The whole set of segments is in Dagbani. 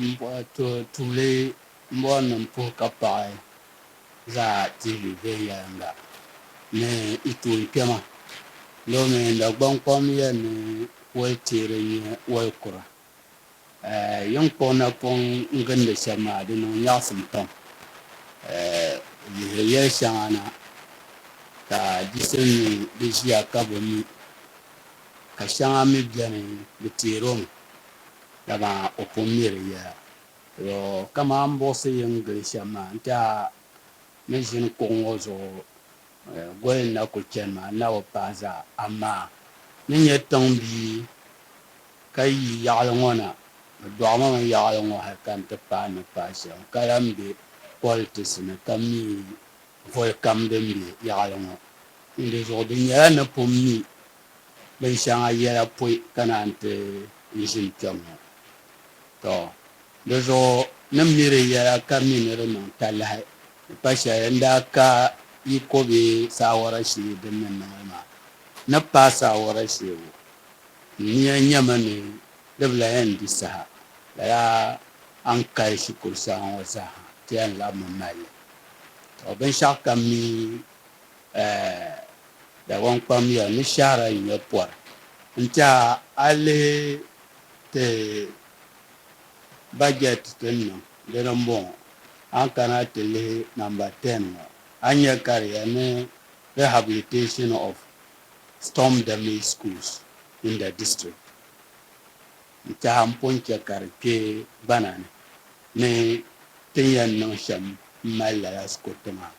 M bɔhi to tuuli m bɔhi ni m puhi ka paɣi zaa TV viɛnyɛliŋga ni yi tuun kpɛma domi Dagbaŋ kom yɛn ni wali teeri n-nyɛ wali kura. Yin kpuɣi napɔŋ n gindi shɛba maa di niŋ nyaɣisim pam. Lihiri yɛli shɛŋa na ka di sim ni di ʒiya ka bi mi ka shɛŋa mi beni di teeri o mi. dama o pun mi di yɛla. Yo, kaman m buɣisi yi ni gili shɛm maa nti a ni ʒini kuɣ ŋɔ zuɣu goli n-na kul chani maa, n na bi pahi zaa. Amaa ni nyɛ tiŋ bia ka yi yaɣili ŋɔ na, bɛ dɔɣi ma mi yaɣili ŋɔ hal ka nti pahi ni pahi shɛm ka lan be politisi ni ka mi voli kam din be yaɣili ŋɔ. N di zuɣu di nyɛla ni pun mi bin shɛŋa yɛla pɔi ka naan ti yi ʒini kpɛm ŋɔ. Tɔ! Di zuɣu ni mi di yɛla ka mi ni di niŋ talahi di pa shɛli n daa ka yi ko bɛ saawara shee din ni niŋli maa. N ni paai saawara shee ŋɔ, n nia nyɛmi ni di bi lahi yɛn di saha, lala a ni kali shikuru saha ŋɔ zaa ha ti yɛn labimi mali li. Tɔ! Binshɛɣu kam mi Ɛɛ Dagbaŋ kpam ya ni shɛhira yi nyɛ pɔri n-ti a a lihi ti bajɛti ti ni niŋ dini m-bɔŋɔ. A ni kana ti lihi namba ten ŋɔ a ni nya ka di ya ni Rehabilitation of Storm Damaged Schools in the District n-tiɛha m-pun chɛ ka di kpe gbana ni ni ti ni yɛn niŋ shɛm m-mali lala sikuriti maa.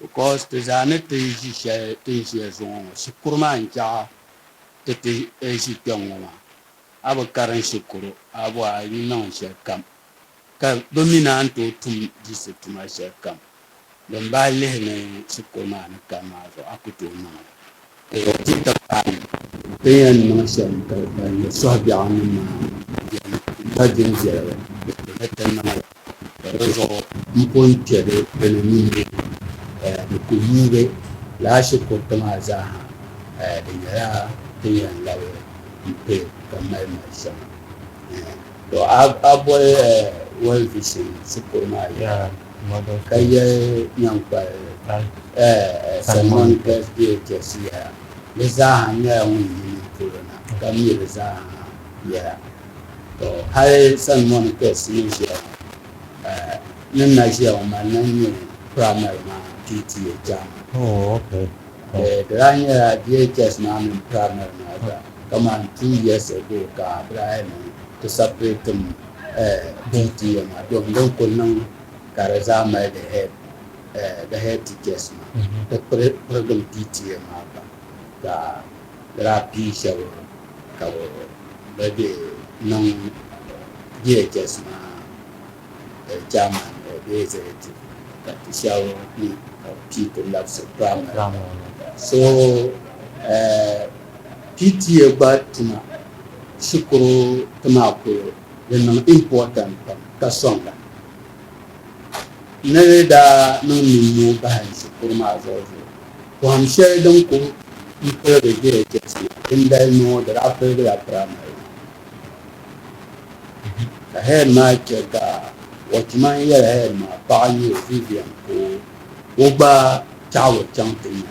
because ti zaa ni ti ni ʒi shɛli ti ni ʒiya zuŋɔ ŋɔ shikuru maa n chaɣa ti ti ʒi kpɛŋ ŋɔ maa a bi karim shikuru a bɔhi a yi niŋ shɛli kam ka bi mi naan tooi tum diisi tuma shɛli kam din bahi lihi ni shikuru maa ni kani maa zuɣu a ku tooi niŋ li. Ka ya ti ka paai bɛ yɛn niŋ shɛm ka ban nyɛ sɔhi biɛɣu ni maa yɛn pa din viɛla la, bɛ kpɛla ti nama la. Ka di zuɣu m po yi kpe bɛ bɛ ni mi mi ka ya ni ku yuugi laa shi kuriti maa zaa ha, ka ya di nyɛla ti ni yɛn labi m pe ka mali mali shɛŋa. Tɔ! A boli World Vision shikuru maa yɛla. Ka yɛli nyaŋkpali Salmɔn Kɛsdie Jɛsiya, Di zaaha nyɛla ŋun yi ni polo na, ka mi di zaaha yɛla. Tɔ! Hali Salmɔn Kɛs ni ʒiya ŋɔ, ni na ʒiya ŋɔ mali na nyɛ piramari maa PTA chairman. Di daa nyɛla DHS maa mini piramari maa zaa, kamani two years ago ka bɛ daa yɛli ni ti sapiriti m. bihi ti ya maa domi din kul niŋ ka di zaa mali di head the head teachers maa ti pirigim PTA maa pam ka di daa pii shɛba ka bɛ be niŋ DHS maa chairman bee executive ka ti shɛba mi ka bɛ pii ti labisi primary maa so PTA gba tuma Shikuru ti maa kuli di niŋ important pam ka soŋda ni di daa niŋ nimmuu bahim shikuru maa zuɣu zuɣu. Pohim sheli din kuli n piligi JHS maa dindali ni ŋɔ di daa piligila primary maa ka head maa che ka watchman yeli head maa paɣa n nyɛ o Vivian ka o gba chaɣi o chaŋ ti nya.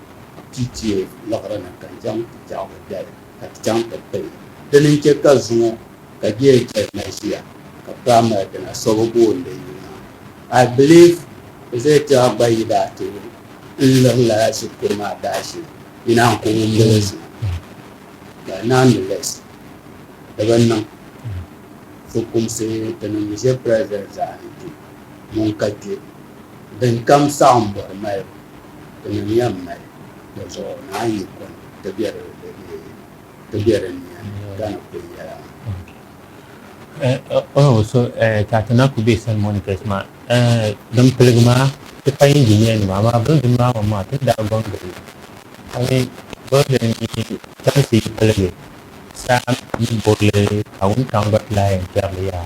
Ti teei liɣiri ni ka zaŋ ti tɛɣigu dali ka ti chaŋ ti pili. Dini n-chɛ ka zuŋɔ ka Jay Jay na ʒiya ka paa mali di na so bi booni yuli maa. I believe Zay Tɛɣa gba yi daa ti lu n-liɣi lala shikuru maa daashee yi naan ku ŋun mili zuŋɔ. But nonetheless di bi niŋ. Fukumsi tinim ʒe President zaani kpe ŋun ka kpe. Din kam saɣim bɔri malibu, ti nim yɛn mali di zuɣu naan yi kuni ti be di ti be di nia ni gana kuli yɛla maa. O o so ka ti na ku be San Monikas maa din piligi maa ti payi injiniya nima amaa building maa man maa ti daa gɔŋ gili ka mi building mi chamsi yi piligi saa ni burili ka wuntaŋ gba ti lahi yɛn kpɛri li yaha.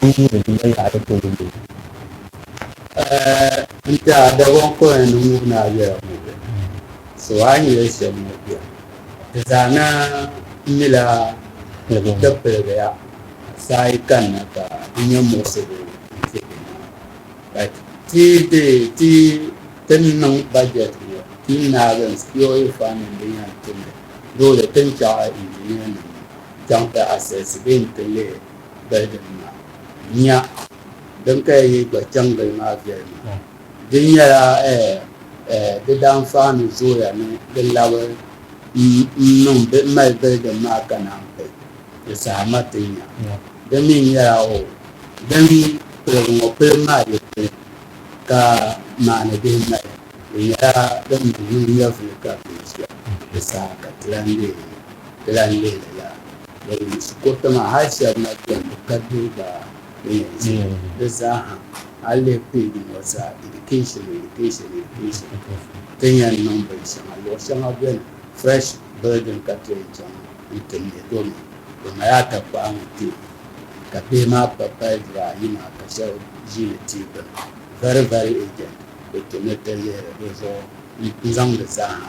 N yi di duma yaɣili polo ni o. Ɛɛ, n tiɛha Dagɔn kɔya ni ŋub ni a yɛra ŋɔ bɛ? So a ni yɛli shɛm ŋɔ bɛ? Di zaa na mila ti piligi ya saa yi kanna ka n nya muɣisigu n-ti bɛ ni. Ka ti be ti ti ni niŋ bajɛt ŋɔ, ti ni naagi n sikiɔri fandi n din yɛn tumli, loori ti ni chaɣi injinianim chaŋ ti asɛsi bɛ n-ti lihi. Bɛhigiri maa, nya din ka ya yi gba chaŋ gili maa viɛli maa. Di nyɛla di daanfahi ni zooya ni di labi m-mali bɛhigiri maa ka naan ti di saha ma ti nya. Di mi nyɛla o din piligu ŋɔ pilibu maa bi pili ka maani bihi mali. Di nyɛla din mi niŋ nyɛvili ka bɛ ʒia di saha ka ti lan leei li lala. Shikɔriti maa hali shɛli na bɛni di ka diriba di zaaha a yi lihi page ŋɔ zaa education education education ti ni yɛn niŋ bini shɛŋa luɣi shɛŋa bɛni fresh building ka ti yɛn chaŋ n ti mɛ domi di mali atakpaa ni ti ka bihi maa pa pali duri ayi maa ka shɛba zi di tia gbuni very very urgent bi kpɛmi ti lihiri di zuɣu n zaŋ di zaaha.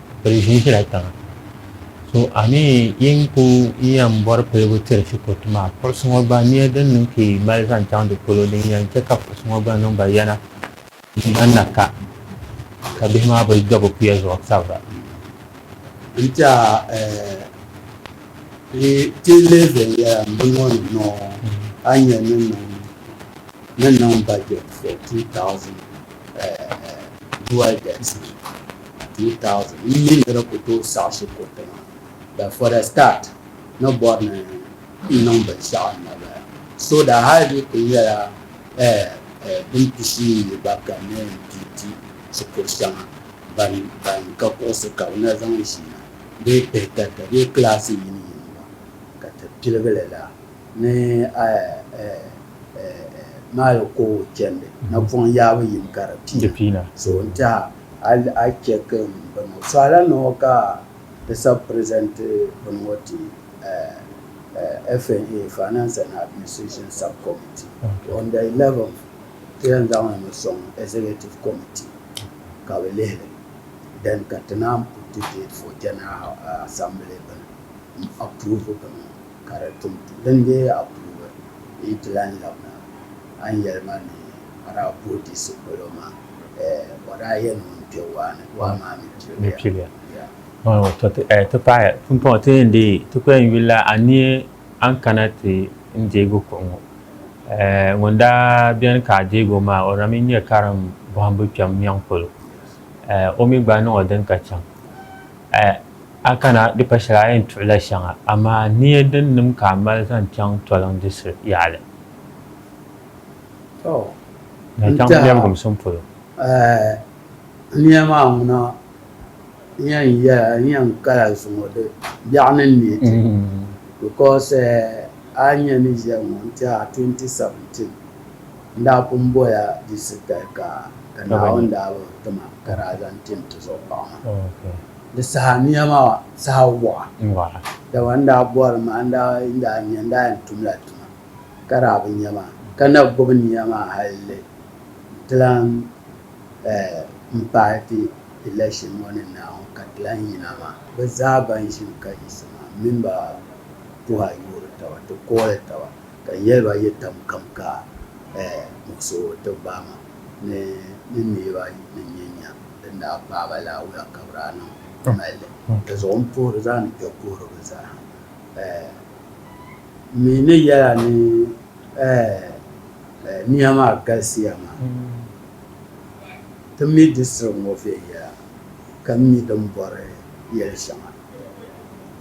piligu ʒila tiŋa so a ni yin ku yɛn bɔri piligu tiri Shikotu maa piɣisi ŋɔ gba nia din niŋ ka yi mali zaŋ chaŋ di polo din yɛn chɛ ka piɣisi ŋɔ gba niŋ ba yana n-ŋmani na ka ka bihi maa bi do bɛ puya zuɣu sabira. N ti a ti lihi viɛnyɛla m-bɔŋɔ ni maa a ni nya ni niŋ ni niŋ budget for 2012 elections. 2000 n mi nira ku tooi saɣisi kuriti maa but for the start ni bɔri ni n niŋ binshɛɣu n na bala so daa hali di kuli nyɛla eh, eh, din pishi n yi gba ka ni yɛn di di shikuru shɛŋa ban ban ka kuɣusi ka bɛ na zaŋ ʒi na bee pihi tarita bee kilaasi yini yini gba ka ti piligili la ni eh, eh, eh, eh, maali koowu chɛndi napɔŋ yaabu yini ka di piina so n tiɛha Hal a chɛ ka n bini ŋɔ, suhila ni ŋɔ ka ti sabi present bini ŋɔ ti FNA, Finance and Administration Sub-Committee. On the 11th, ti yɛn zaŋ li mi sɔŋ Executive Committee ka bɛ lihi li, then ka ti naan put date for General Assembly bini m-approve bini ŋɔ. Ka di tum din be a puuni yi ti lan labina a ni yɛli ma ni a daa puhi diɣisi polo maa, eh, o daa yɛn mi n-kpe waa ni, waa maa mi piliya. Piliya. Ya. Oh, tɔ ti, eh, ti paɣi pumpɔŋɔ ti yɛn deei ti ko yɛn yuli la a ni yɛ a ni kana ti n deegi kuɣu ŋɔ, eh, ŋun daa beni ka a deegi o maa, o na mi nyɛ karim bɔhimbu kpɛm nyɛŋ polo, eh, o mi gba niŋ o din ka chaŋ. A kana di pa shɛli a yɛn tuɣila shɛŋa, amaa niya din nim ka a mali zaŋ chaŋ toliŋ diɣisi yaɣili. Tɔ! N tiɛha niya maa ŋuna n yɛn yɛla n yɛn kala zuŋɔ di biɛɣu ni n neei ti because a ni yɛn nya ni ʒiya ŋɔ n tiɛha 2017. N daa pun bɔya di sitali ka ka Naawuni daa bi ti ma ka daa zaŋ ti n tizuɣu paɣ maa. Di saha nia maa saha waɣa, dama n daa bɔri mi a ni daa yi daa nya n daa yɛn tumla tuma ka daa bi nya maa, ka na gbubi nia maa halli n ti lan m paai ti election ŋɔ ni Naawuni ka ti lan yina maa. Bɛ zaa ban ʒini ka yiɣisi maa m mini ba puhi a yoori taba ti kooli taba. Ka n yɛli ba yɛ tam kam ka muɣisi o ti gbaai ma ni ni neeba ni nyɛ nya din daa paai ba laawuya ka bɛ daa niŋ m-mali li. Dizuɣu m puhiri zaa ni kpe puhiri bɛ zaaha. M mi ni yɛl a ni nia maa galisiya maa, ti mi di siri ŋɔ viɛnyɛla ka mi din bɔri yɛl shɛŋa.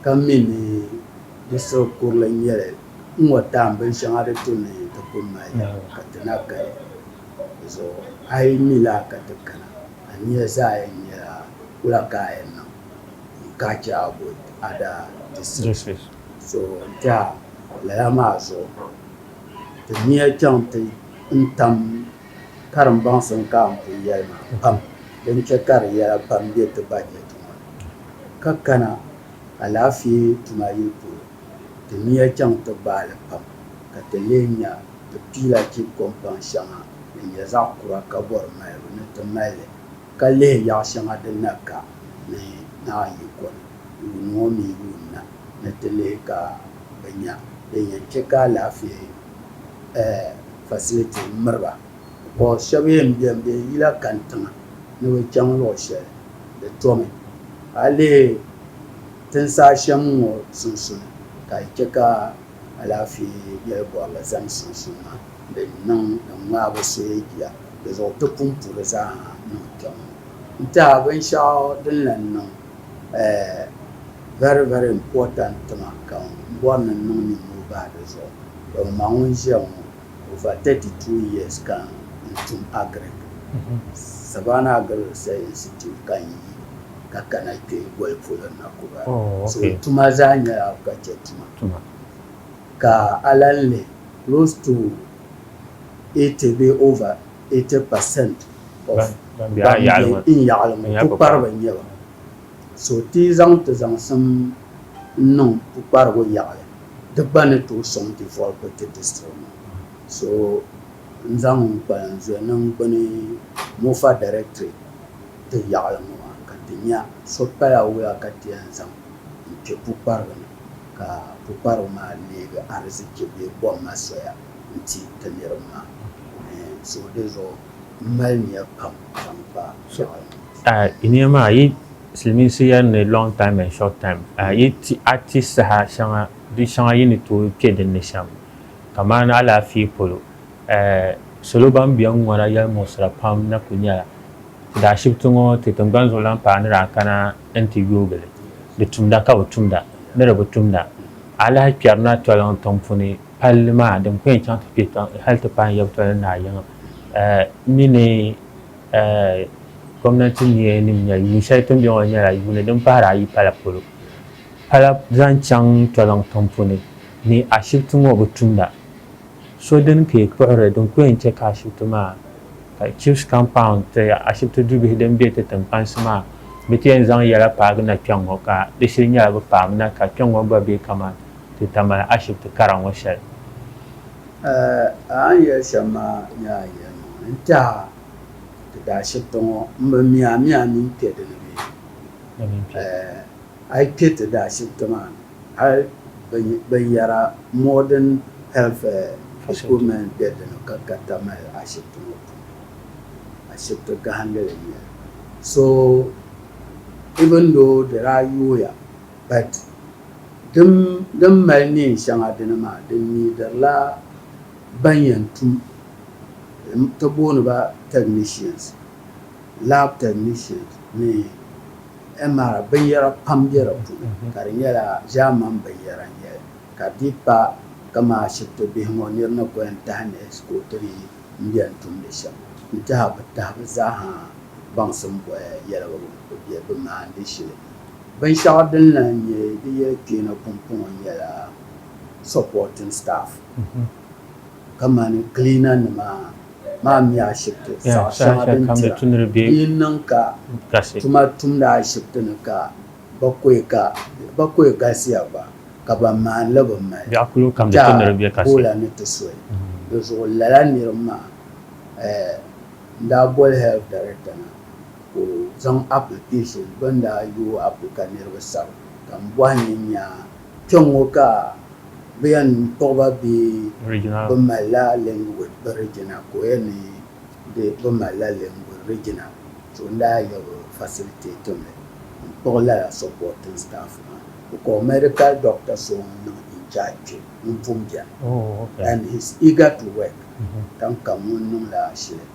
ka mi ni di siɣi kurili n-nyɛ li n-ŋɔ taam binshɛŋa di tu ni ti kum mali ya ka ti na kali di zuɣu. A yi mi laa ka ti kana, a nia zaa yɛn nyɛla wula ka a yɛn niŋ n-ka a chɛ a bol a daa distrisi zuɣu n-ti a? Lala maa zuɣu ti nia chaŋ ti n-tam Karimbaŋsim ka n pun yɛli ma pam din chɛ ka di yɛla pam be ti bajɛti ŋɔ ni, ka kana alaafee tuma yili polo ti niya chaŋ ti gbaai li pam ka ti lee nya ti piila chibi kɔmpaŋ shɛŋa din nyɛ zaɣ kura ka bɔri malibu ni ti mali li ka lihi yaɣ shɛŋa din na ka ni naai yi kɔni yuun ŋɔ mini yuun na ni ti lihi ka bɛ nya din yɛn chɛ ka alaafee facility n miriba because shɛba yɛn bɛni bɛ yila kani tiŋa ni bɛ chaŋ luɣi shɛli di tomi a yi lihi tinsi a shɛm ŋɔ sunsuuni ka di chɛ ka alaafee yɛli bɔrili zani sunsuuni maa din niŋ din ŋmaai bi suhu jia di zuɣu ti punpu di zaa ha niŋ kpɛm n tɛha binshɛɣu din lahi niŋ. Eh, very very important tima ka n bɔri ni n niŋ nimmɔhi bahi di zuɣu. Tɔ m ma ŋun ʒiya ŋɔ, over 32 years ka n tum Agric. Savannah Agri Research Institute ka n yi ka kana kpe boli polo na Kuba. So n tuma zaa nyɛla agriculture tuma. Ka a lan lihi close to 80 bee over. 80% of ban be a yaɣili ŋɔ pukpariba n-nyɛ ba. So ti yi zaŋ ti zaŋsim n-niŋ pukparigu yaɣili di gba ni tooi sɔŋ ti volibu ti district maa. So n zaŋ n kpalan zuya niŋ gbuni Mofa Directorate ti yaɣili ŋɔ maa ka ti nya so pala wuya ka ti yɛn zaŋ n kpe pukparigu ni ka pukparigu maa leegi arizichi bee kom ma soya. n-ti ti niriba maa. Zuɣu di zuɣu m mali nia pam zaŋ kpa Fir'auna. A yi nia maa, yi silimiinsi yɛli ni long time and short time, a yi ti a ti saha shɛŋa di shɛŋa yi ni tooi kpe din ni shɛm, kamani alaafee polo. Salo ban be ŋ-ŋɔna yɛlimuɣisira pam na kuli nyɛla, di ashibiti ŋɔ ti tiŋgbani zuɣu lan paai ni daa kana n-ti yoogi li. Di tumda ka bɛ tumda ni di bi tumda, alahi kpɛri na toliŋ tiŋ puni. Palli maa din pun yɛn chaŋ ti kpe tiŋ hali ti paai yabitɔli ni naa yiŋa mini gomnanti niya nim nyɛli yuun shɛli ti ni bɛ ŋɔ nyɛla yuuni din pahiri ayi pala polo pala zaŋ chaŋ toliŋ tiŋ puni ni ashibiti ŋɔ bi tumda so dini ka yi kpuɣiri din ku yɛn chɛ ka ashibiti maa ka chiefs compound ti ashibiti dubihi din bɛ ti tiŋkpansi maa bi ti yɛn zaŋ yɛla paagi na kpɛŋŋɔ ka di shili nyɛla bi paami na ka kpɛŋŋɔ gba bɛ kaman ti Tamale ashibiti kara ŋɔ shɛli. Aa! A ni yɛli shɛm maa nyɛ a yɛli mi ŋɔ. N tɛha ti ti ashibiti ŋɔ m-bi mi a mi a ni yi kpe di ni bee? Aa! A yi kpe ti ti ashibiti maa ni hali binyara modern health equipment be di ni ka ka Tamale ashibiti ŋɔ puuni. Ashibiti gahindili n-nyɛ li. So even though di daa yooya. But dim din mali neen shɛŋa dini maa, di needirila ban yɛn tum bɛ ti booni ba technicians, lab technicians ni MRI binyɛra pam be di puuni ka di nyɛla German binyɛra n-nyɛli ka di dii pa kaman ashibiti bihi ŋɔ nir ni kuli yɛn tahi neesi ka o ti di n beni tumdi shɛm n-tihi bɛ tahi bɛ zaa ha baŋsim boli yɛligu bɛ maandi shili. Binshɛɣu din lan nyɛ di yɛli kpeena pumpɔŋɔ nyɛla supporting staff kamani cleaner nima maa mi ashibiti saɣ shɛŋa din tira di yi niŋ ka tuma tumdi ashibiti ni ka ba koyi galisiya gba ka ban maani li bi mali tɛha boola ni ti soli di zuɣu lala niriba maa n daa boli health director na Ka o zaŋ application bɛ ni daa yooi apli ka niriba sara ka m bɔhi ni n nya kpɛŋŋo ka bɛ yɛn kpuɣi ba bee bɛ malila language bɛ regional ka o yɛn ni di bɛ malila language regional so n daa yɛbi facilitate mi n kpuɣi lala supporting staff maa bɛ kɔhi medical doctor so ŋun niŋ in charge kpe. n pun bia and he's eager to work tiŋ kam ŋun niŋ la ashili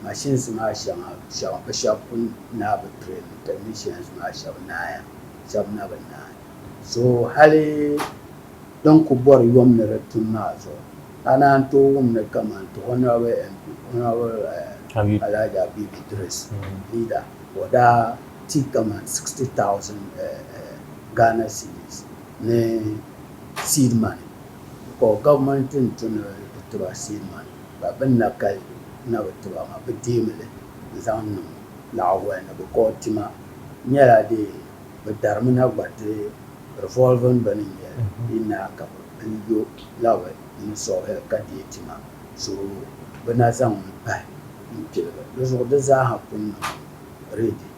machines maa shɛŋa shɛba bi shɛba pun naai bi train technicians maa shɛba naaya shɛba na bi naai so hali din ku bɔri yom ni di tum maa zuɣu a naan n tooi wum ni kaman ti honourable MP honourable Alhaji Habib Idris leader o daa ti kaman sixty thousand Ghana cedis. ni seed money because government n to ni bi tiba seed money but bin na kali na bi tiba maa bi deemi li n zaŋ niŋ laɣaguya ni because tima nyɛla dee bi dari mi na gba ti revolving bini n nyɛli di na ka bi pili yo labi ni soil ka deei tima so bi na zaŋ li pahi n piligi di zuɣu di zaa ha pun niŋ ready.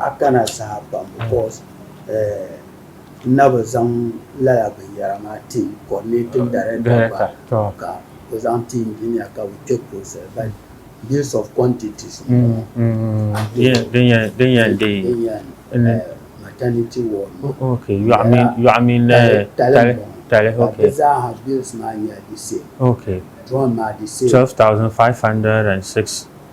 A kana saha pam because n na bi zaŋ lala binyɛra maa team coordinating director gba ka o zaŋ ti engineer ka bɛ kpe process but based of quantities ŋɔ din yɛn deei maternity ward yɔɣu mini tali tali ka bɛ zaa ha bills maa nyɛla the same drum maa the same 12,506.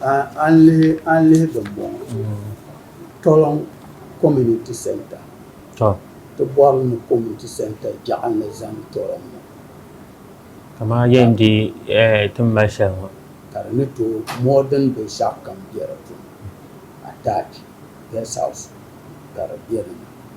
A ni lihi a ni lihi dimbɔŋɔ Toloŋ community centre to ti bɔri ni community centre jaɣa ni zani Toloŋ ŋɔ kamaa yɛn di ti ni mali shɛli ŋɔ ka di ni tooi modern binshɛɣu kam bɛ di puuni attach guest house ka di bɛ ni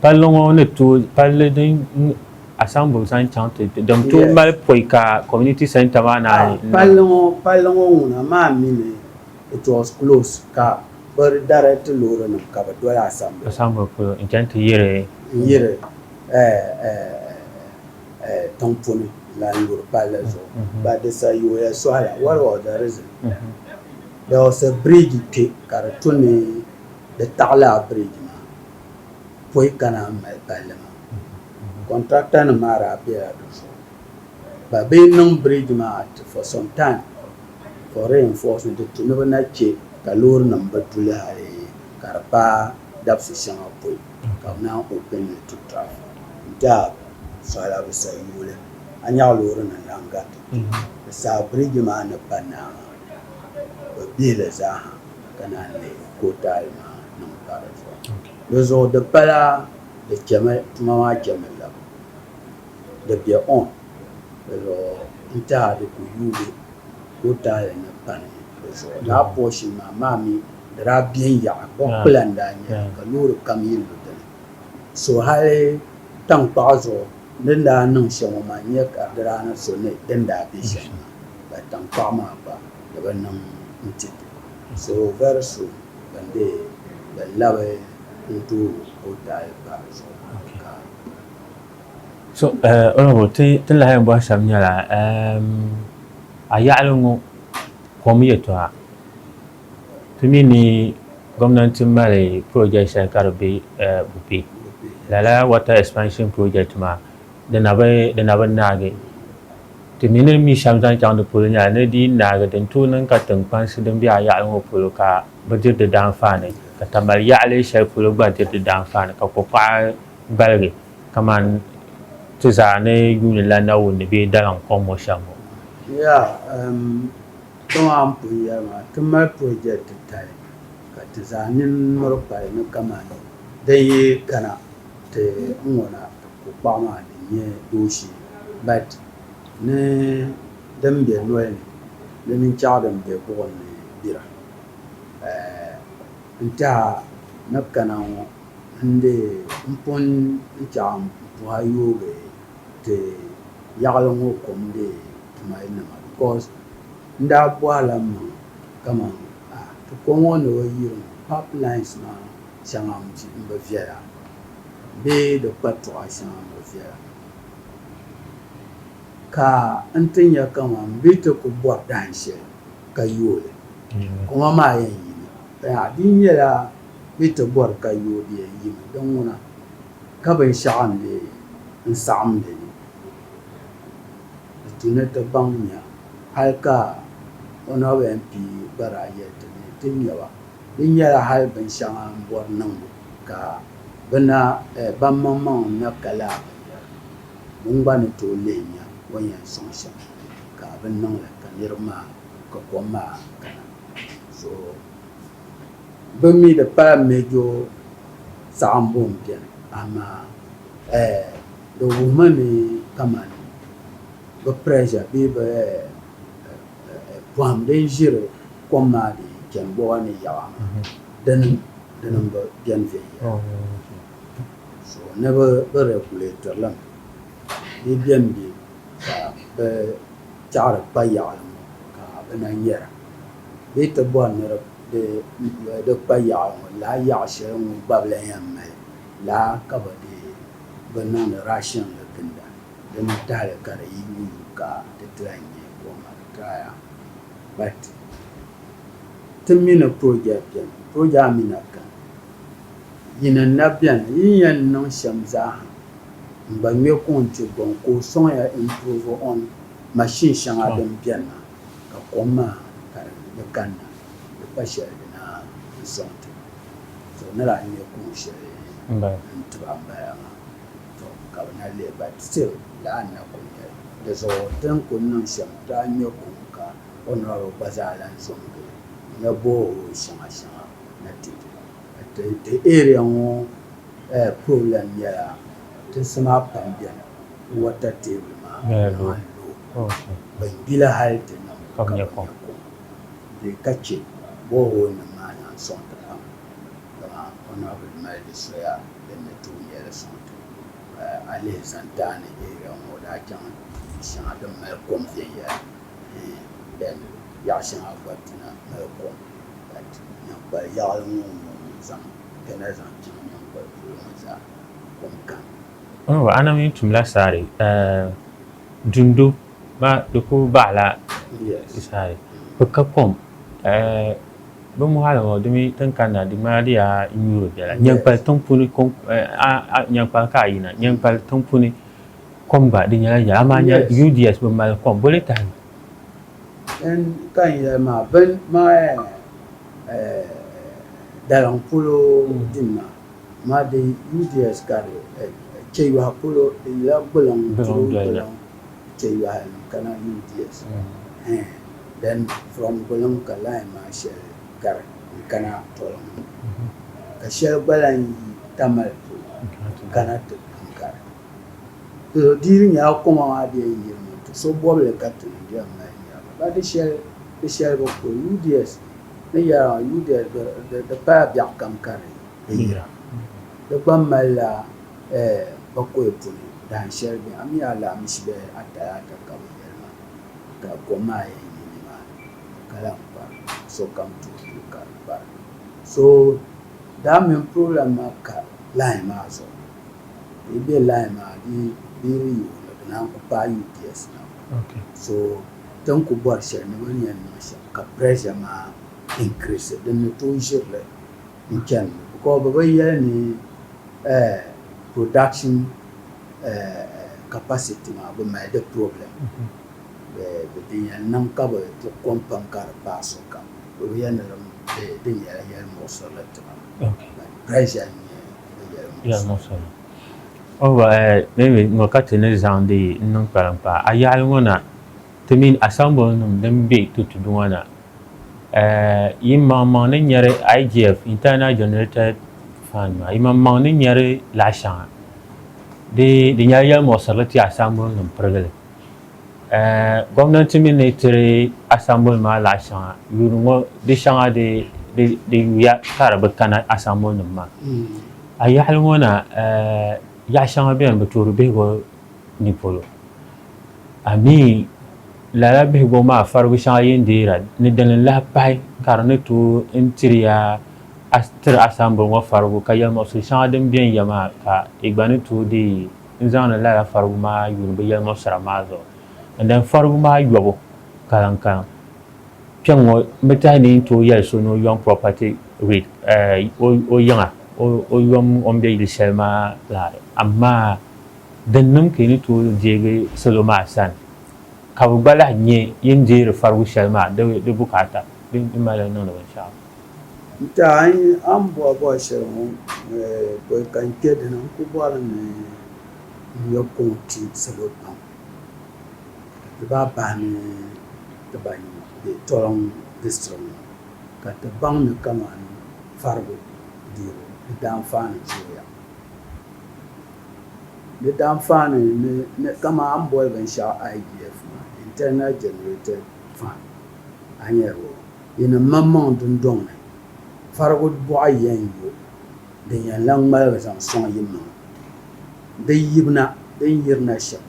Palli ŋɔ ni tooi palli din asambum zaŋ chaŋ ti din tooi mali pɔi ka community centre maa naai n-niŋ. Palli ŋɔ palli ŋɔ ŋuna maa mi ni it was closed ka bɛ direct loorinima ka bɛ doli asambum. Asambum polo n-chani ti yiri. N-yiri tiŋpuni la n-yuri palli zuɣu but di sa yooya sɔhi la what was the reason? There was a bridge kpe ka di tu ni di taɣi lala bridge maa. pɔi ka naan mali palli maa kɔntrata nim maa daa bela di zuɣu ka bɛ niŋ biriji maa for some time for reinforcement di tu ni bɛ na che ka loori nim bi du li hali ka di paai dabisi shɛŋa pɔi ka bɛ naan open li to traffic n tɛha suhila bɛ sa yuuli a nya ka loori nim lahi gariti kpe di saha biriji maa ni pa naai maa bɛ bihi li zaa ha. ka naan leei kootaali maa niŋ pa di zuɣu. Di zuɣu di pala di chɛmi tuma maa chɛmi la di be on di zuɣu n-tɛha di ku yuui kootaali ni pani di zuɣu. Lala portion maa maa mi di daa be n-yaɣi bɔɣikpula n-daa nyɛ li ka loori kam yi lu di ni. So hali taŋkpaɣu zuɣu din daa niŋ shɛm ŋɔ maa n-nyɛ ka di daa ni so ni din daa be shɛm maa ka taŋkpaɣu maa gba. ni bɛ niŋ n-ti so vari so bɛn be bɛ labi n-tooi o daai pa di zuɣu ka So Honourable ti ti lahi yɛn bɔhi shɛba nyɛla a yaɣili ŋɔ kom yɛltɔɣa ti mi ni gomnanti mali project shɛli ka di be Bupe lala water expansion project maa Di na bi, di na bi naagi ti mi ni mi shɛm zaŋ chaŋ di polo nyɛla ni di yi naagi din tooi niŋ ka tiŋkpansi din be a yaɣili ŋɔ polo ka bi diri di daanfaani ka Tamale yaɣili shɛli polo gba diri di daanfaani ka kokpaɣa gbaligi kaman ti zaa ni yuuni la Nawuni bee Daliŋ kom ŋɔ shɛm ŋɔ. Ya, um, kpɛŋɔ a ni pun yɛli maa, ti mali project titali ka ti zaa nini miri kpali ni kaman din yi kana. Ti n ŋɔna ku kpaɣu maa din nyɛ dooshee bat ni din be noli ni di mini chɛɣu din be buɣim ni bira. N teha ni bɛ kana ŋɔ n di n pun chaɣim m puha yoogi ti yaɣili ŋɔ kom di tumali nima bikos n daa bɔhila m maŋa kaman a ti kom ŋɔ ni o yiri ŋɔ pap lines maa. shɛŋa m-bi viɛla bee di kpatuɣa shɛŋa m-bi viɛla ka n ti nya kaman m bi ti ku bɔri dahin shɛli ka yooi li. Koma maa yɛn yimi. Yaha! Di nyɛla bɛ ti bɔri ka yooi di yɛn yimi. Di ŋuna ka binshɛɣu n-lee n saɣim li ni di tu ni ti baŋ nya hal ka o naɣiba yɛn pii gbaraa yɛli ti ni ti nya ba. Di nyɛla hal binshɛŋa m-bɔri niŋbu ka bɛ na bammaŋmaŋ n-na ka laa binyɛra, bɛ ni gba ni tooi lihi nya o ni yɛn sɔŋ shɛm ka bɛ ni niŋ li ka niriba maa ka kom maa kana. Zuɣu bɛ mi di paai Mejo saɣimbu m-beni, amaa di wuhimi ni kamani bɛ pressure bee bɛ Pɔhim din ʒiri kom maa di yi chani bɔba ni yaɣa maa, dini dini m-bi beni viɛnyɛla. So ni bɛ bi regulate li mi. Di bemi be ka bɛ tɛɣiri kpa yaɣili ŋɔ ka bɛ na nyara. Bɛ ti bɔri ni di di kpa yaɣili ŋɔ lala yaɣ shɛli ŋɔ gbabila yɛn mali lala ka bɛ dii bi niŋdi ration li ginda. Din tahili ka di yi wum ka ti tila n-nyɛ Goma Retire but ti mi ni Proja beni, Proja mi na kani. Yi ni na beni yi ni yɛn niŋ shɛm zaaha n-gba ŋme ka o ni kpe gɔŋ ka o sɔŋ ya improve on machine shɛŋa din beni maa ka kom maa ka di ni kanna di pa shɛli di na n-sɔŋ ti ba. So nira n-nyɛ kuŋ shɛli n-ti ba m-bala maa. Tɔ! Ka bɛ na leei ba, Ti laa n-na kul nya li. Di zuɣu ti ni kul niŋ shɛm daa nya kum ka o niriba gba zaa lan zo n-gili nya borehole shɛŋa shɛŋa ni ti di ba. Ti area ŋɔ problem nyɛla tinsi maa pam beni water table maa lan looi bɛ gbila hali ti niŋ ka bɛ nya kom bee ka chɛ boreholenim maa lan sɔŋ ti pam dama honorable mali di soya. din ni tooi nyɛla suŋ ti o. Ka a lihi santaani Eria ŋɔ, o daa chaŋ du shɛŋa din mali kom viɛnyɛla, bɛn yaɣ shɛŋa gba dina mali kom. Ka nyaŋkpal yaɣili ŋɔ ŋun zaŋ kɛna zaŋ chaŋ nyaŋkpal polo ŋɔ zaa, kom kani. Ɔɔh! Anami n-tumla saari, ɛɛh, dundo Maa di ku baɣila saha bi ka kom bi mɔɣili ŋɔ di mi tin kanna di ŋmanila di yaa nyuuri bela nyɛnkpali tiŋ puuni nyɛnkpali ka a yina nyɛnkpali tiŋ puuni kom gba di nyɛla yɛla amaa nya UDS bi mali kom bo li tahi N ka n yɛli maa bin maa daliŋ polo din maa maa di UDS ka di chɛ yɔhi polo di yɛla gbuluŋ dolo doliya. chɛ yɔhi n kana yuun di ya soli. Hɛɛn, then from Gbuliŋ ka line maa shɛli gari n kana Tɔliŋ ŋɔ ka shɛli gba lan yi Tamale polo n kana ti pun gari polo. Di yi nyɛla koma maa di yɛn yiri mi ti so bɔbili ka ti ni di yɛn mali nira mi ba di shɛli di shɛli bi ku UDS ni yɛra maa UDS di pala biɛɣukam ka di yira di gba mali la Ɛɛ, ba koya puni, dahin shɛli bɛ a mi alahimusi bihi ata yaa ka ka bɛ yɛli ma, Ka kom maa yɛn yi nimaani, ka lahi kpari sokam tuhi tuhi ka di kpari. So daa mini problem maa ka line maa zuɣu, ka yi be line maa di di yi yooi ni di naan ku paai UPS na maa. So tin ku bɔri shɛli ni bɛ ni yɛn niŋ shɛm ka pressure maa increase, din ni tooi ʒiri li. n chani ŋɔ because bɛ bi yɛli ni production capacity maa bɛ mali di problem bɛ din yɛn niŋ ka bɛ ti kom pam ka di paai sokam bɛ bi yɛli ni di nyɛla yɛli muɣisirili tima but pressure n nyɛ di yɛli muɣisirili. Maybe ŋɔ ka ti ni zaŋdi n niŋ kpariŋ paai a yaɣili ŋɔ na ti mini assemble nim din be Tutudu ŋɔ na. yimaŋmaŋ ni nyɛri igf internal generated fund maa yimaŋmaŋ ni nyɛri laɣa shɛŋa di di nyɛla yɛlimuɣisirili ti asambili nim pirigili gɔmnanti mi ni tiri asambili maa laɣa shɛŋa yuuni ŋɔ di shɛŋa di di yuya ka di bi kana asambili nim maa a yaɣali ŋɔ na yaɣa shɛŋa bɛni bi toori bihigu ni polo. Amii! Lala bihigu maa farigu shɛŋa yi ni deera ni dini lahi pahi ka di ni tooi n tiri ya a tiri a sambuli ŋɔ farigu ka yɛlimuɣisiri shɛŋa din bɛn ya maa ka i gba ni tooi deei n zaŋdi lala farigu maa yuuni bi yɛlimuɣisira maa zuɣu n dani farigu maa yɔbu karim karim kpɛŋ ŋɔ n bi tahi ni n tooi yɛli so ni o yɔm property read o yiŋa o yɔm o ni bɛ yili shɛli maa lahi amaa Din niŋ ka yi ni tooi deegi salo maa sani ka bɛ gba lahi nya yin deeri farigu shɛli maa di bukaata din mali n niŋdi binshɛɣu. N ti a yi a ni bɔhi bɔhi shɛli ŋɔ pɔi ka n kpe dini n ku bɔri ni n yo kuŋ ti salo pam ka ti bahi bahi ni ti ba yina be Tɔlɔŋ district ŋɔ ka ti baŋ ni kamani farigu deebu di daanfaani zooya. Di daa faani ni ni kaman a ni boli binshɛɣu IGF maa, Internal Generated Fund, a ni yɛn nya di ni maŋmaŋ dundɔŋ ni farigu bɔɣa yɛn yo din yɛn lahi ŋmaligi zaŋ sɔŋ yimaŋa. Di yibina din yirina shɛm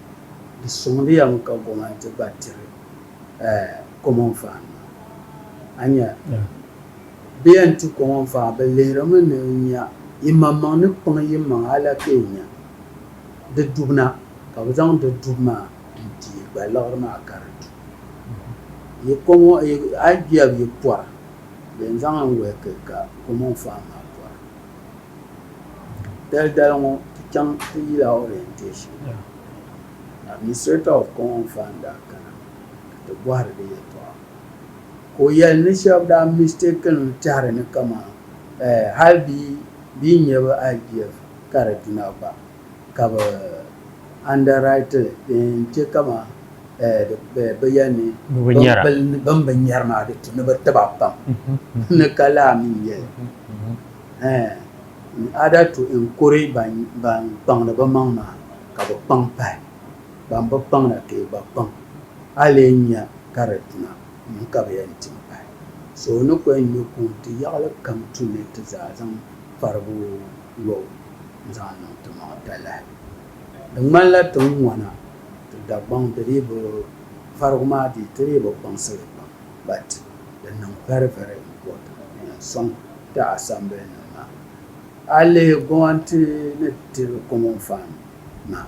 di sɔŋdi ya mi ka gɔmɛnti gba tiri ɛɛh Common Fund maa. Bɛ yɛn tu kɔŋɔ n-faɣi, bɛ lihirimi ni n nya yimaŋmaŋ ni kpiŋ yimaŋ hali ka yi nya di dubu na, ka bɛ zaŋ di dubu maa n-ti yi gba liɣiri maa ka di du. Yi kɔŋɔ, a yi biɛb yi pɔra, bɛ yɛn zaŋ li wɛhiki ka kɔŋɔ n-faɣi maa pɔra. Daldali ŋɔ, ti chaŋ ti yila orientation ni Administrator of Kɔŋɔ n-faɣi n-daa kana ka ti bɔhiri di yɛltɔɣa. Ka o yɛli ni shɛba daa mistaken li tɛhiri ni kaman hali bee bɛ yi nya bɛ IGF ka di duna gba ka bɛ underwrite li din yɛn che kaman bɛ yɛli ni bɛn bi nyari maa di tu ni bi ti ba pam ni ka laa mi n-nyɛ li in order to encourage ban kpaŋdi bɛ maŋ maa ka bɛ kpaŋ pahi. Ban bi kpaŋ na ka yi gba kpaŋ, a lee nya ka di duna m ka bɛ yɛn ti m pahi. So o ni kɔŋ nyu kuŋ ti yaɣili kam tu ni ti zaa zaŋ farigu lo n-zaŋ niŋ ti maŋa talahi. Di ŋmanila ti ni ŋɔna ti Dagbaŋ di dii bi farigu maa dii ti dii bi kpaŋsi li pam but di niŋ very very important n yɛn sɔŋ ti assembly nim maa. A lihi gomati ni ti common fund maa.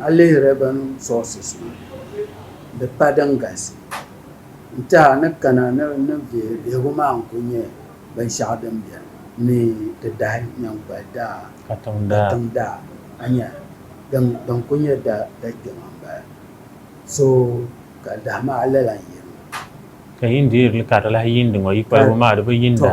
A lihi revenue sources ŋɔ di pa din galisi n-ti a ni kana ni ni vihi vihigu maa n-kuli nyɛ binshɛɣu din beni ni ti dahi nyaŋkpali daa katiŋ daa a nya din kuli nyɛ da kpɛma m-bala so ka dahi maa lala n-yiri ma. Ka yi ni deeri li ka di lahi yiindi ŋɔ yi kpalibu maa di bi yiinda.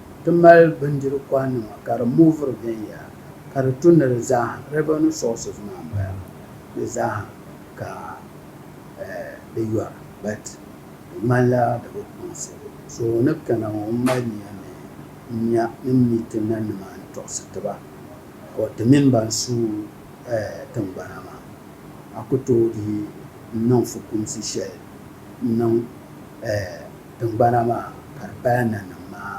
Ti mali bindiri kɔha nima ka di mooviri viɛnyɛla ka di tu ni di zaaha revenue sources maa n bala di zaaha ka di yɔra but di ŋmanila di bi kpaŋsi so o ni kana ŋɔ n mali nia ni n nya ni n mi ti na nima n tɔɣisi ti ba or ti mini ban su tingbana maa a ku tooi dii n niŋ fukumsi shɛli n niŋ Tiŋgbana maa ka di paya nanim maa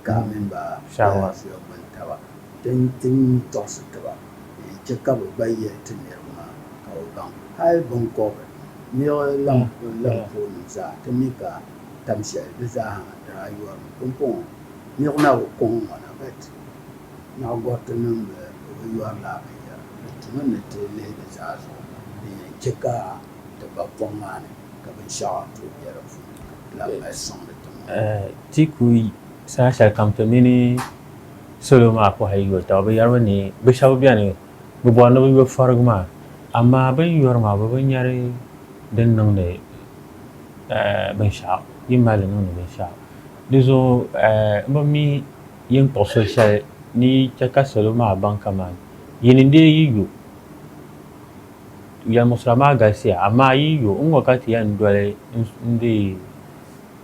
gaɣa mini ba daanziya gbini taba nti tɔɣisi ti ba ni n chɛ ka bɛ gba yɛli ti niriba maa ka bɛ baŋ hal biŋkɔbiri niɣi lampoonim zaa ti mi ka tam shɛli di zaaha daa yɔrimi. Pumpɔŋɔ niɣi na bi kɔŋ ŋɔ na bɛt naɣigɔritinim bi yɔri lala binyɛra. Di tumi ni ti lihi di zaa zuɣu din yɛn chɛ ka ti ba pɔŋ maa ni. Ti ku saha shɛli kam ti mini salo maa pɔhili yoli taba. Bɛ yɛrimi ni bɛ shɛba beni bɛ bɔri ni bɛ yo fɔrigu maa amaa bɛ ni yɔri maa bɛ bi nyari din niŋdi binshɛɣu yi mali li niŋdi binshɛɣu. Di zuɣu m bi mi yin kpuɣi soli shɛli ni yi chɛ ka salo maa baŋ kaman yi ni deei yi yo. Yɛlimusira maa galisiya amaa yi yo n-ŋɔ ka ti yɛn doli n dii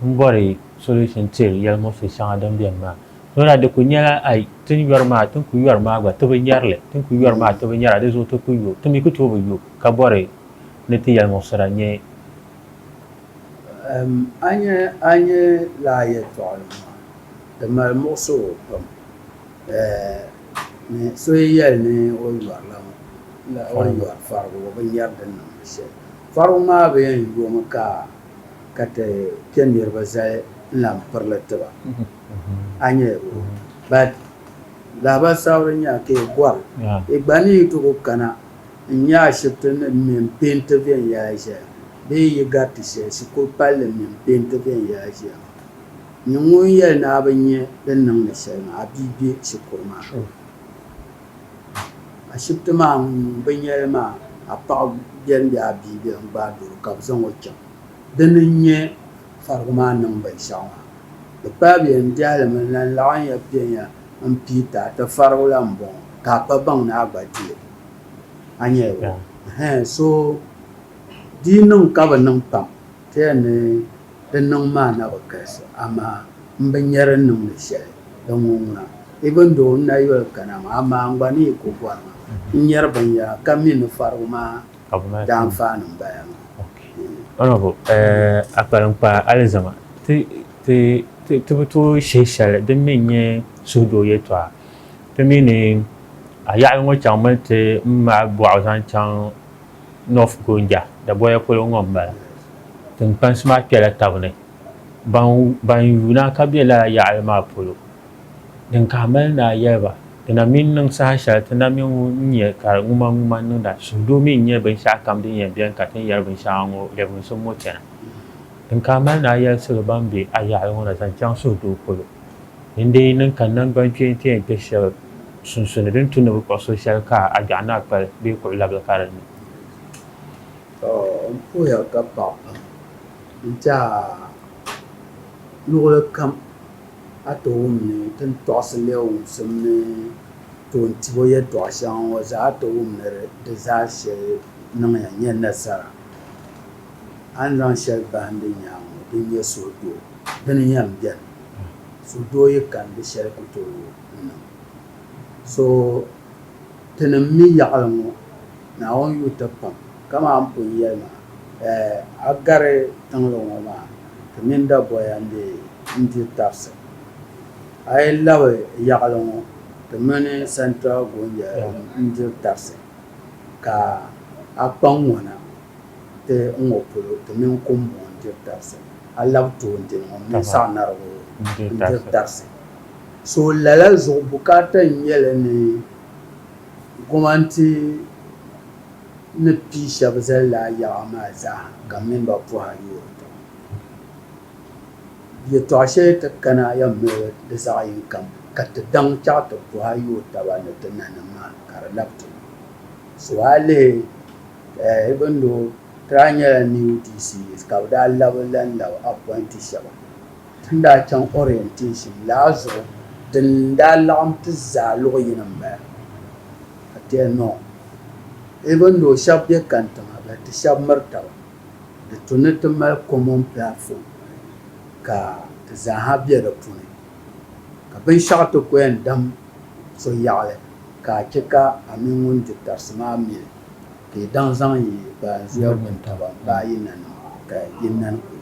n bɔri solution tiri yɛlimuɣisi shɛŋa din beni maa so daa di kuli nyɛla ai ti ni yɔri maa ti ni kuli yɔri maa gba ti bi nyari li ti ni kuli yɔri maa ti bi nyara di zuɣu ti kuli yo ti mi kuli tooi bi yo ka bɔri ni ti yɛlimuɣisira nyɛ A nya a nya lala yɛltɔɣili maa di mali muɣisigu pam. So yi yɛli ni o yɔrila ŋɔ la o ni yɔri farigu o bi nyari din niŋdi shɛli farigu maa bi yɛn yomi ka ka ti kpe niriba zali n lan piri li tiba a nya but lahabali sabiri nya ka yi bɔri yi gba ni yi ti ku kana n nya ashibiti nim mini peenti viɛnyɛla ʒeya bee yi gariti shɛli shikuru palli mini peenti viɛnyɛla ʒeya. Ni ŋun yɛli ni a bi nya din niŋdi shɛli maa, a bia be shikuru maa ni. Ashibiti maa ŋun bi nya li maa, a paɣa beni bee a bia beni gbaai doro ka bɛ zaŋ o chaŋ. Dini n-nyɛ farigu maa niŋ binshɛɣu maa. Di paai bɛ yɛn biɛhi li mi lan laɣinya bɛ ya m-piita ti farigu la m-bɔŋɔ ka a pa baŋ ni a gba di li. A nya ya? Ɛhɛn so di yi niŋ ka bi niŋ pam ti yɛn ni Di niŋ maa na bi galisi, amaa m bi nya di niŋ ni shɛli. Di ŋun ŋuna, i bi ndo n na yoli kana maa, amaa n gba ni yi ku bɔri ma n nyari binyɛra ka mi ni farigu maa daanfaani m-bala maa. Honourable, a kpaliŋkpaa alizama ti bi tooi shihi shɛli din mi n-nyɛ suhudoo yɛltɔɣa. Ti mi ni a yaɣili ŋɔ chaŋ mi ni ti ŋmaai bɔɣu zaŋ chaŋ. North Gonja, Daboya polo ŋɔ m-bala. Tiŋkpansi maa kpɛla taba ni. Ban yuui naa ka be lala yaɣili maa polo. Din ka a mali ni a yɛli ba, di na mi n-niŋ saha shɛli ti na mi ŋun n-nyɛ ka di ŋumaŋuma niŋda. Suhudoo mi n-nyɛ binshɛɣukam din yɛn beni ka ti ni yɛri binshɛŋa ŋɔ lɛbimsim ŋɔ chana. Din ka a mali ni a yɛli salo ban be a yaɣili ŋɔ na zaŋ chaŋ suhudoo polo, din dii niŋ ka naŋgbankpeeni ti yɛn kpe shɛba. sunsuuni din tu ni bi kpuɣi so shɛli ka a gbɛɣu ni a kpali bee kuɣu labili ka di ni. N puhiya ka paɣi pam n-ti a luɣili kam a ti wum ni ti ni tɔɣisi leei wumsim ni toon tib o yɛtɔɣ shɛŋa ŋɔ zaa a ti wum ni di zaa shɛli niŋya nyɛ nasara. A ni zaŋ shɛli bahim di nyaaŋa ŋɔ din nyɛ suhudoo di ni yɛn beni. Suhudoo yi kani di shɛli ku tooi. So tinim mi yaɣili ŋɔ, Naawuni yuui ti pam, kamani pun yɛli maa, eh, a gari tiŋli ŋɔ maa, ti mini daboya n-diri tarisi. A yi labi yaɣili ŋɔ, ti mini Central Gonja n-diri tarisi, ka a kpa ŋ-ŋɔna ti n ŋɔ polo, ti mini Kumbɔŋɔ n-diri tarisi, a labi toondini ŋɔ, m mini Saɣinarigu n-diri tarisi. So lala zuɣu bukaata n-nyɛ li ni gomannti ni pii shɛba zali lala yaɣa maa zaa ka mini ba pɔhira yoori taba. Yɛtɔɣ shɛli ti kana yɛn mali di zaɣ yini kam ka ti daŋ chaɣ ti pɔhira yooi taba ni ti nanim maa ka di labi ti luhi. So a lihi even though ti daa nyɛla new DC ka bɛ daa labi lan labi appointee shɛba. Ti ni daa chaŋ orientation laa zuɣu din daa laɣim ti zaa luɣi yini m-bala. Ka ti yɛli no. Even though shɛba be kani tiŋa but ti shɛba miri taba. Di tu ni ti mali common platform ka ti zaa ha be di puuni. Ka binshɛɣu ti ko yɛn dam so yaɣili ka a chɛ ka a mini ŋun di tarisi maa mi li ka yi daŋ zaŋ yi baanzuya wuntaba m-baai yi nanima ka yi nani kuli.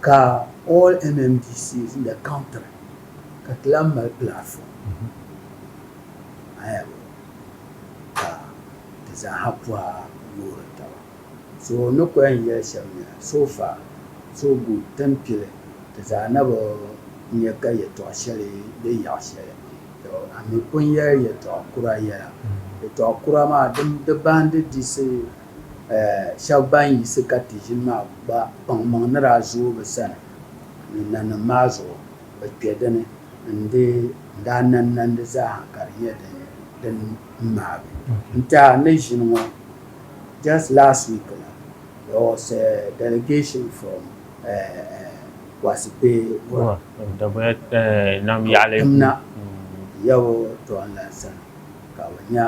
Ka all MMDCs in the country ka ti lahi mali platform ayabo ka ti zaaha pɔha yoori taba. So n ni ko yɛn yɛli shɛba nyɛla, so far, so good, ti ni kpi li ti zaa na bi nya ka yɛtɔɣ shɛli be yaɣ shɛli. Tɔ! A mi pun yɛli yɛtɔɣ kura yɛla. Yɛtɔɣ kura maa di baandi diɣisi Shɛb ban yiɣisi ka ti ʒini maa gba kpaŋmaŋ ni daa zooi bɛ sani ni nanim maa zuɣu, bɛ kpe di ni n-di n-daa nanimnandi zaaha ka di nyɛ din ŋmaagi. N-tɛha ni ʒini ŋɔ, just last week la, there was a delegation from Kwasi Kpe Gura, Timna, Yawɛ Toonlan sani ka bɛ nya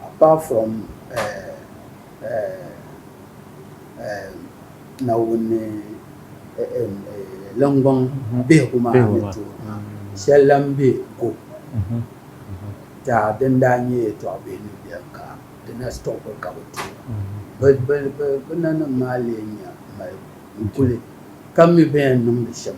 Apart from Naawuni lingbɔŋ bihigu maa ni tooi maa, shɛli lahi be ko tɛha din daa nyɛ yɛtɔɣ bihi ni beni ka di na stop mi ka bi tooi ba. Bɛ nanim maa leei nya m-mali n-kuli ka mi bɛn yɛn niŋdi shɛm.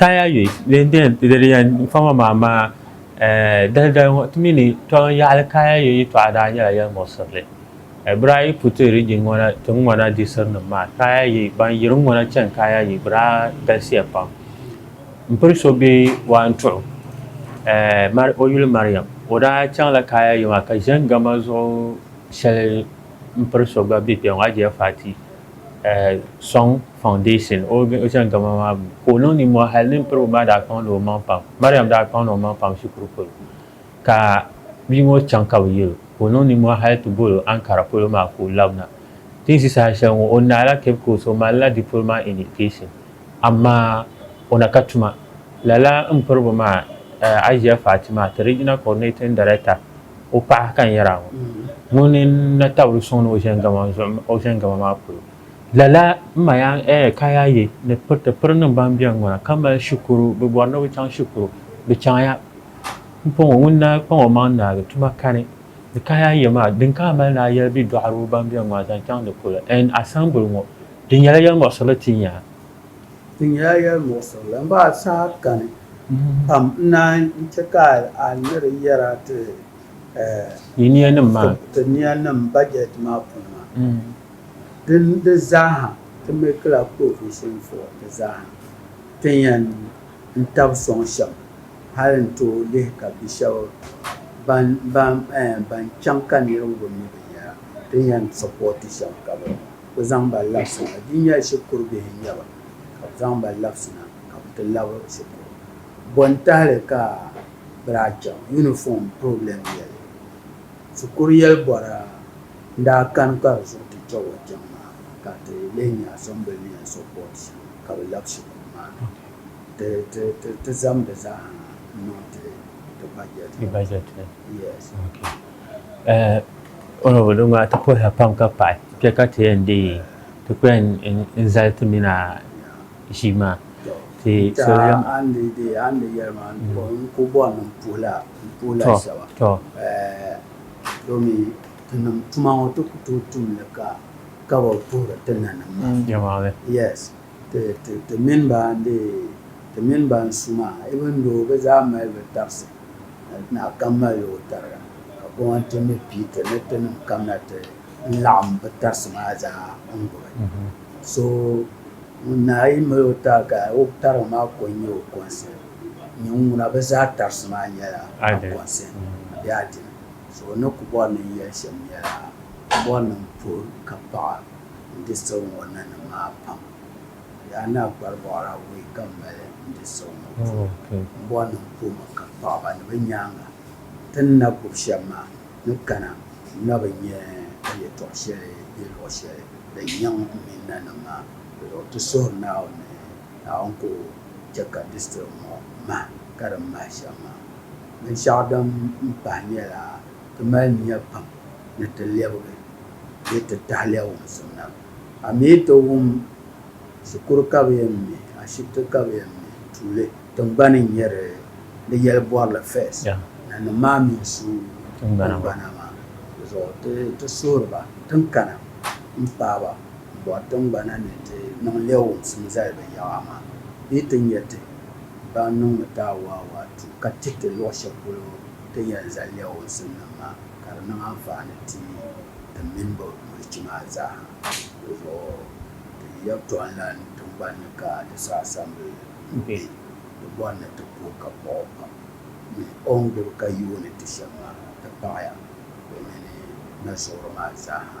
Kaya yoy din beni di di yɛn fama maa amaa dali dali ŋɔ ti mi ni tɔŋ yaɣili kaya yoy yɛtɔɣa daa nyɛla yɛli muɣisirili. Bira yi pu ti rijiŋ ŋɔ na ti ŋɔna diɣisiri nim maa kaya yoy ban yiri ŋɔ na chani kaya yoy bɛ daa galisiya pam. M piri so bɛ waa n tuɣu o yuli Mariam o daa chaŋ la kaya yoy maa ka ʒɛn gama zuɣu shɛli m piri so gba bɛ kpɛŋɔ Ajiya Fati sɔŋ. Foundation Ocean Gama maa gbuni ka o niŋ ninmɔhi hali nini piribu maa daa kpaŋ la o maŋ pam. Mariam daa kpaŋ la o maŋ pam shikuru polo ka bia ŋɔ chaŋ ka bɛ yɛl o ka o niŋ ninmɔhi hali ti bol o Ankara polo maa ka o labina. Tinsi saha shɛli ŋɔ o naai la Cape Coast o mali la Diploma in Education amaa o na ka tuma. Lala m piribu maa Ajiya Fati maa ti Regional Coordinating Director o paɣa ka n yɛra ŋɔ ŋuni n na tabili suŋ ni Ocean Gama zuɣu Ocean Gama maa polo. Lala n ma ya ɛɛ ka ya yi ni piri ti piri niŋ ban beni ŋɔ na ka mali shikuru bɛ bɔri ni bɛ chaŋ shikuru bɛ chaŋ ya m pɔŋɔ ŋun na kpaŋ o maŋ naagi tuma kani ni ka ya yi maa din ka a mali ni a yɛli bɛ dɔɣiriba ban beni ŋɔ na zaŋ chaŋ di polo ɛn asɛmbuli ŋɔ di nyɛla yɛli muɣisirili ti nya di nyɛla yɛli muɣisirili maa saha kani pam n naan yi chɛ ka a ni di yɛra ti ɛɛ ti niya nim bajɛti maa puuni maa. Din di zaaha ti makila provision for di zaaha tin yan n tab sɔŋ shɛm hal n tooi lihi ka bi shɛb ban chaŋ ka niriba bi mi binyɛra tin yan supporti shɛm ka bi ku zaŋ ba labisina. Di nyɛla shikuru bihi n-nyɛ ba ka bi zaŋ ba labisina ka bi ti labi shikuru. Bɔ n tahili ka bi daa chaŋ uniform problem yɛli? Shikuru yɛli bɔra? N daa kani ka di zuɣu ti chɛ wa chaŋ maa ka ti leei nya Assemblymen support ka bɛ labi shikuru maa ni ti zaŋ di zaaha niŋ ti budget ni. Budget ni. Yes. Ok. Honourable di ŋɔ ti puhiya pam ka paɣi kpe ka ti yɛn deei ti kpe n zali ti mini a ʒii maa. Ti so yɛm. A ni deei a ni yɛli maa n ku bɔri ni m puhila shɛba. Tɔ. Domi ti nim tuma ŋɔ ti ku tooi tum li ka ka bi puhiri ti nanim maa. Yes, ti ti ti mini ba n dee ti mini ba n su maa even though bi zaa mali bi tabisi naa kam mali o tariga ka koma ti mi pii ti ni ti nim kam na ti n laɣim bi tarisi maa zaa n gbubi so ŋun naa yi mali o tariga ka o tariga maa ko n nyɛ o concept. Ŋuna bɛ zaa tarisi maa nyɛla Akonsin bee Adini. So ni ku bɔri ni n yɛli shɛm nyɛla, m bɔri ni m puhi ka paɣa n di siɣi ŋɔ nanim maa pam. Yaa naa Kparibɔɣira wuhi ka m mali n di siɣi ŋɔ puhi. M bɔri ni m puhi mi ka paɣaba ni bɛ nyaaŋa ti ni na gub shɛm maa ni kana n na bi nya yɛtɔɣ shɛli bee luɣ shɛli din nyaŋ m mini nanim maa. Ti suhiri Naawuni ni Naawuni ka o chɛ ka district ŋɔ mahi ka di mahi shɛm maa. Binshɛɣu din pahi nyɛla ti mali nya pam ni ti lɛbigi bee ti tahiliya wumsim na. A mi yi ti wum shikuru ka bɛ yɛn me, ashibiti ka bɛ yɛn me, tuuli tiŋgbani n-nyɛ di ni yɛli bɔrili first. Nanim maa mi n-su tiŋgbana maa zuɣu. Ti suhiri ba tiŋkana m-paai ba bɔri tiŋgbana ni ti niŋ lɛɣiwumsim zali bɛ yaɣa amaa bee ti nya ti ban niŋmi taawaawa tu ka ti ti luɣ shɛli polo ti yɛn zali lɛɣiwumsimnim maa ka di niŋ anfaani ti ti mini bɛ milichi maa zaaha. Di zuɣu ti yi yɛltɔɣinlan tiŋgbani ni ka ti sa asambili n-kpe, di bɔri ni ti ku o ka paɣ o pam ni o ni gbibi ka yooi ni ti shɛm maa ti paɣiya bɛ mini mali suɣiro maa zaaha.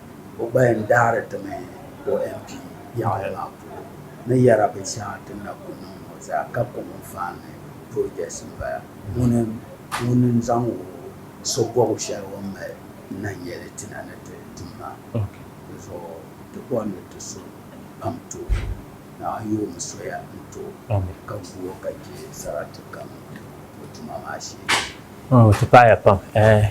O gba yɛn daari ti mi o MP yaɣili maa polo ni yɛra bin shɛŋa ti ni na ku niŋ ŋɔ zaa ka kom n faan ni projects n bala ŋuni ŋuni n zaŋ o so bɔbu shɛli o ni mali n na nyɛ li ti na ni ti tum maa di zuɣu ti bɔndi ti so pam ti o ni a yoomi soya n ti o ka gu o ka che sarati kam bɛ tuma maa shee. O ti paɣi ya pam.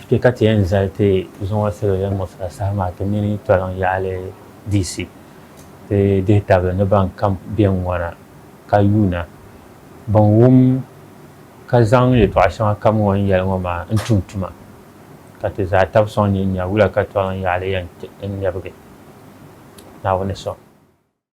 Kpe ka ti yɛn zali ti zuŋɔ salo din ŋubisira saha maa ti mini toliŋ yaɣili diisi ti dihi tabili ni ban kam bɛn ŋɔna ka yuuna bin wum ka zaŋ yɛtɔɣa shɛŋa kam ŋɔ n yɛli ŋɔ maa n tum tuma ka ti zaa tab sɔŋ nyin nya wula ka toliŋ yaɣili yɛn ti n lɛbigi Naawuni sɔŋ.